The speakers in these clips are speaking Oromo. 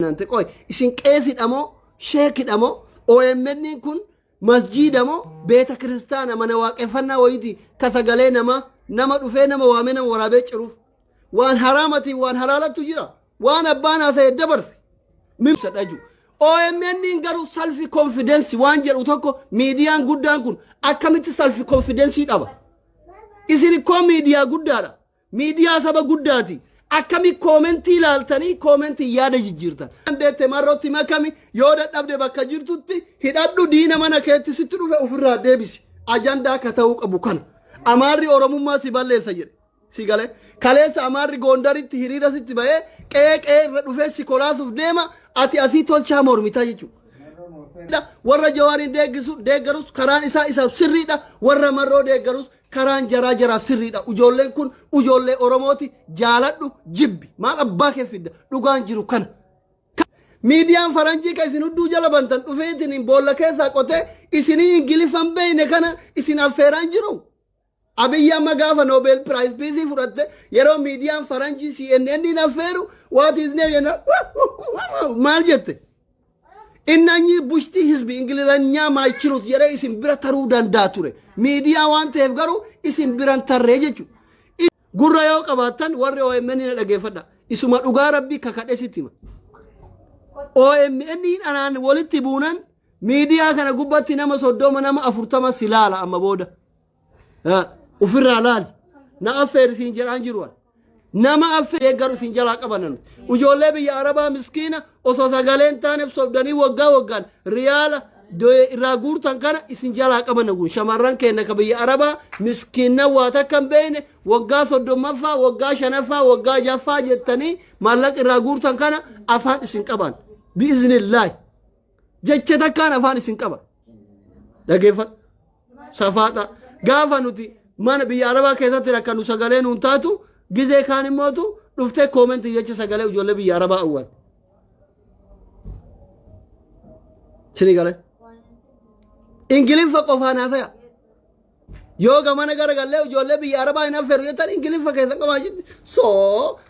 Naante qoy isin qeesidha moo sheekidha moo OMN kun masjiida moo beeta kiristaana mana waaqeffannaa wayiiti ka sagalee nama nama dhufee nama waamee nama waraabee ciruuf waan haraamatiin waan halaalattu jira waan abbaan haasa'e dabarse mimsa dhaju OMN garuu salfi konfidensi waan jedhu tokko miidiyaan guddaan kun akkamitti salfi konfidensii dhaba isin ikkoo miidiyaa guddaadha Miidiyaa saba guddaati. Akkami koomentii ilaaltanii koomentiin yaada jijjiirtan. Dandeette marrootti makami yoo dadhabde bakka jirtutti hidhadhu diina mana keetti sitti dhufe ofirraa deebisi. Ajandaa akka ta'uu qabu kana. Amaarri Oromummaa si balleessa jedhe. Si galee kaleessa Amaarri Goondaritti hiriira sitti ba'ee qe'ee qe'ee irra dhufee si kolaasuuf deema ati asii tolchaa mormitaa jechuudha. warra jawaariin deeggisu deeggarus karaan isaa isaaf sirriidha warra marroo deeggarus Karaan jaraa jaraaf sirriidha. Ujoolleen kun ujoollee Oromooti jaaladhu jibbi. Maal abbaa kee fidda? Dhugaan jiru kana. Miidiyaan faranjii kan isin hudduu jala bantan dhufeetiin boolla keessaa qotee isinii ingiliffan beeyne kana isin affeeraan jiru. Abiyyi amma gaafa Nobel Prize Peace fudhatte yeroo miidiyaan faranjii CNN hin affeeru waati isnee jenna maal jette? Innanyii bushtii hizbi ingilizanyaa maaychiluut jedhee isin bira taruu danda'a ture. Miidiyaa waan ta'eef garuu isin biran tarree jechu. Gurra yoo qabaattan warri OMN na dhageeffadha. Isuma dhugaa rabbii kakadhe sitti hima. OMN anaan walitti buunan miidiyaa kana gubbatti nama soddoma nama afurtama si laala amma booda. Ofirraa laali. Na affeeri siin jedhaan jiru. Nama affeeri eeggaru siin jalaa qabanan. Ijoollee biyya Arabaa miskiina osoo sagaleen taaneef sobdanii waggaa waggaan riyaala irraa guurtan kana isin jalaa qabanan kun shamarran keenya ka biyya Arabaa miskiinna waa takka hin beekne waggaa soddommaffaa waggaa shanaffaa waggaa jaffaa jettanii maallaqa irraa guurtan kana afaan isin qaban. Bi'iznillaahi. Jecha takkaan afaan isin qaba. Dhageeffadhu. safaaxa gaafa nuti mana biyya arabaa keessatti rakkannu sagalee nuun taatu gizee kaan immootu dhuftee koomentii jecha sagalee ijoollee biyya arabaa awwaatu. Sini galee. Ingiliffa qofaan haasaya. Yoo gamana gara gallee ijoollee biyya arabaa hin affeeru jettan ingiliffa keessa qabaa jirti. So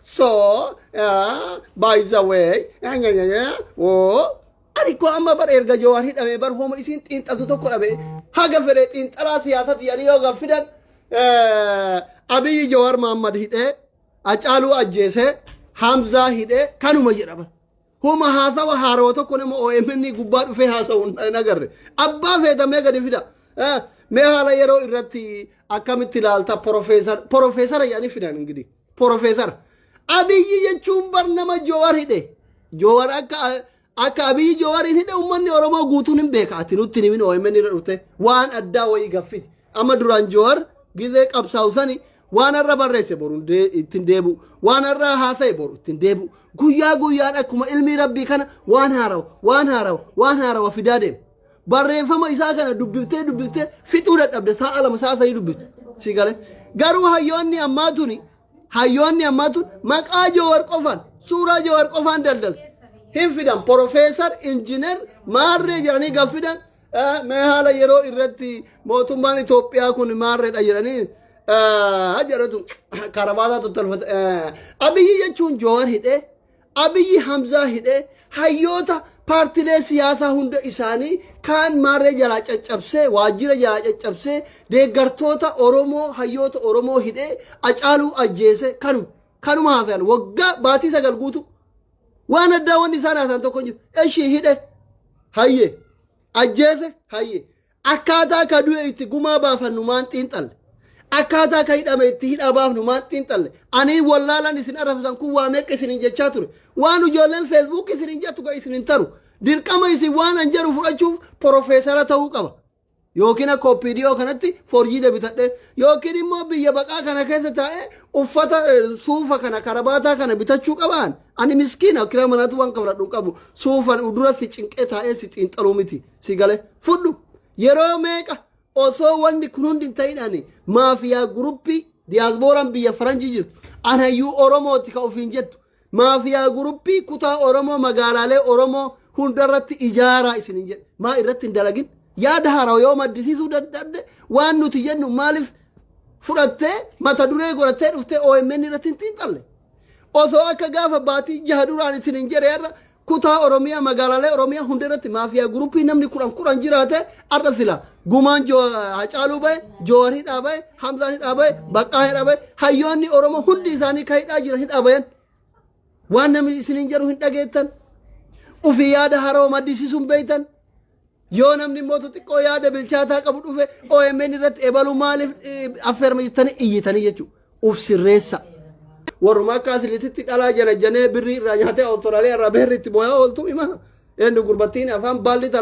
so by the way oo Ani koo amma bar erga Jawaar hidhamee bar homa isiin xiinxaltu tokko dhabe haga fedhe xiinxalaa siyaasati jedhanii yoo gaaffii fidan eh, Abiyyi Jawaar Mahammad hidhee Acaaluu ajjeesee Hamzaa hidhee kanuma jedha bar. Homa haasawa haarawa tokko nama OMN gubbaa dhufee haasa'u hin agarre. Abbaa feetamee gadi fida. Eh, Mee haala yeroo irratti akkamitti ilaalta porofeesara jedhanii fidan ingidihi. Porofeesar. Abiyyi jechuun bar nama Joowar hidhe. Joowar akka akka Abiyyi Joowariin hidhe uummanni Oromoo guutuun hin beeka. Ati nutti hin himin OMN irra dhufte waan addaa wayii gaffin. Amma duraan Joowar gizee qabsaa'u sani waan har'a barreesse boru hin dee- ittiin deebi'u. Waan har'a haasa'e boru ittiin deebi'u. Guyyaa guyyaan akkuma ilmii rabbii kana waan haarawa waan haarawa waan haarawa fidaa deema. barreeffama isaa kana dubbiftee dubbiftee fixuu dadhabde sa'a lama sa'a sadii dubbifte si gale garuu hayyoonni ammaa tuni hayyoonni ammaa tun maqaa jawar qofaan suuraa jawar qofaan daldalu hin fidan porofeesar injiinar maarree jedhanii gaf fidan eh, mee haala yeroo irratti mootummaan Itoophiyaa kun maarreedha jedhanii eh, jedhatu karabaataa tottalfata eh, abiyyi jechuun jawar hidhee Abiyyi Hamzaa hidhee hayyoota paartilee siyaasaa hunda isaanii kaan maarree jalaa caccabsee waajjira jalaa caccabsee deeggartoota Oromoo hayyoota Oromoo hidhee acaaluu ajjeese kanuma kanuma haasayan waggaa baatii sagal guutuu waan addaa wanni isaan haasayan tokko hin jiru eshii hidhe hayye ajjeese hayye Akkaataa ka du'e itti gumaa baafannu maan xiinxalle? Akkaataa ka hidhame itti hidhaa baafnu maan xiinxalle? Ani hin wallaalan isin arrabsitan kun waa meeqa isiniin jechaa ture. Waan ijoolleen Facebook isiniin jettu ka isin hin taru. Dirqama isin waan an jedhu fudhachuuf porofeesara ta'uu qaba. Yookiin akka OPDO kanatti forjiida bitadhee yookiin immoo biyya baqaa kana keessa taa'ee uffata eh, suufa kana karabaataa kana bitachuu qabaan. Ani miskiina kiraa manaatu waan kafladhu hin qabu. Suufan udura si cinqee taa'ee si xiinxaluu miti. si gale fudhu yeroo meeqa osoo wanni kun hundi hin ta'in ani maafiyaa guruppii diyaasbooraan biyya faranjii jirtu anayyuu oromooti ka ofiin jettu maafiyaa guruppii kutaa oromoo magaalaalee oromoo hundarratti ijaaraa isin hin jedhe maa irratti hin dalagin yaada haaraa yoo maddisiisuu danda'e waan nuti jennu maaliif fudhattee mata duree godhattee dhuftee OMN irratti hin xiinxalle osoo akka gaafa baatii jaha duraan isin hin jedhe irra Kutaa Oromiyaa magaalaalee Oromiyaa hunda irratti maafiyaa guruppii namni kudhan kudhan jiraate har'a sila gumaan Jo- Hacaaluu bahe, Joowar hidhaa bahe, Hamzaan hidhaa bahe, Baqqaa hidhaa bahe, hayyoonni Oromoo hundi isaanii kan hidhaa jiran hidhaa bayan. Waan namni isiniin jedhu hin dhageettan. Ufii yaada haroo maddisiisuun beektan. Yoo namni immoo xixiqqoo yaada bilchaataa qabu dhufe OMN irratti ebalu maaliif affeerma jettanii iyyitanii jechuudha. Uf sirreessa. Warruma akka asirrititti dhalaa janajjanee birrii irraa nyaatee Awustiraaliyaa irraa beerri itti booyaa ooltu hima. Eenyu gurbattiin afaan baallitti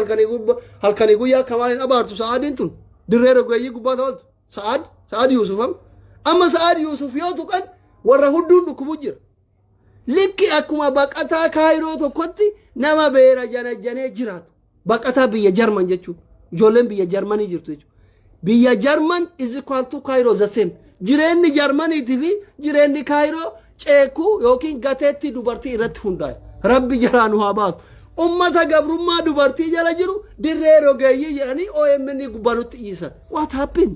halkanii guyyaa akka maaliin abaartu sa'aadiin tun dirree rogeeyyii gubbaa ta'oltu sa'aad sa'aad Yuusufam. Amma sa'aad Yuusuf yoo tuqan warra hudduun dhukkubu jira. Likki akkuma baqataa Kaayiroo tokkotti nama beera janajjanee jiraatu. Baqataa biyya Jarman jechuun ijoolleen biyya Jarmanii jirtu jechuudha. Biyya Jarman is equal to Kaayiroo the same. Jireenyi Jarmaniitii fi jireenyi Kaayiroo ceekuu yookiin gateettii dubartii irratti hundaa'e. Rabbi jalaa nu haa baasu. Ummata gabrummaa dubartii jala jiru dirree rogeeyyii jedhanii OMN gubbanutti dhiisan. What happened?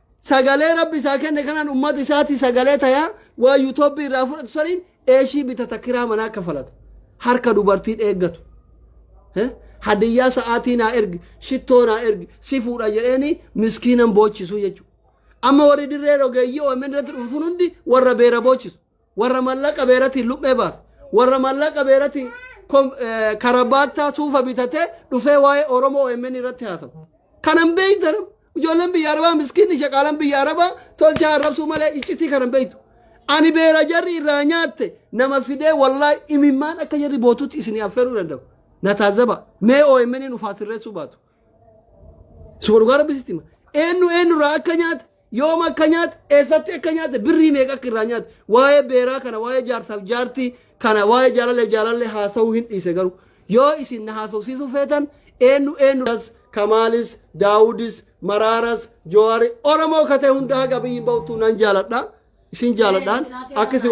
Sagalee rabbi isaa kenne kanaan ummata isaatii sagalee tayaa waan yutoobbii irraa fudhatu saniin eeshii bitata kiraa manaa kafalata. Harka dubartiin eeggatu. Eh? Hadiyyaa sa'aatii naa ergi, shittoo naa ergi, si fuudha jedheeni miskiinan boochisu jechuudha. Amma warri dirree rogeeyyii OMN irratti dhufu sun hundi warra beera boochisu. warra mallaqa beeratiin luphee baatu warra mallaqa beeratiin kom- eh, karabaattaa suufa bitatee dhufee waa'ee oromoo omn irratti haa ta'u kanan beeytan ijoolleen biyya arabaa miskiinni shaqaalan biyya arabaa tolchaa arrabsuu malee iccitii kanan beeytu ani beera jarri irraa nyaatte nama fidee wallaahi imimmaan akka jarri bootutti isinii affeeruu danda'u na taazaba mee omn ufaa sirreessuu baatu Suba dhugaa rabbi sitti hima. Eenyu eenyurraa akka nyaate, yooma akka nyaate, eessatti akka nyaate, birrii meeqa akka irraa nyaate. Waa'ee beeraa kana, waa'ee jaarsaaf jaartii kana, waa'ee jaalallee jaalallee haasa'uu hin dhiise garuu. Yoo isin na haasofsiisuu feetan eenyu eenyurraas Kamaalis, Daawudis, Maraaras, Jowaari, Oromoo katee hundaa gabiyyiin ba'utu nan jaaladha. Isin jaaladhaan akka isin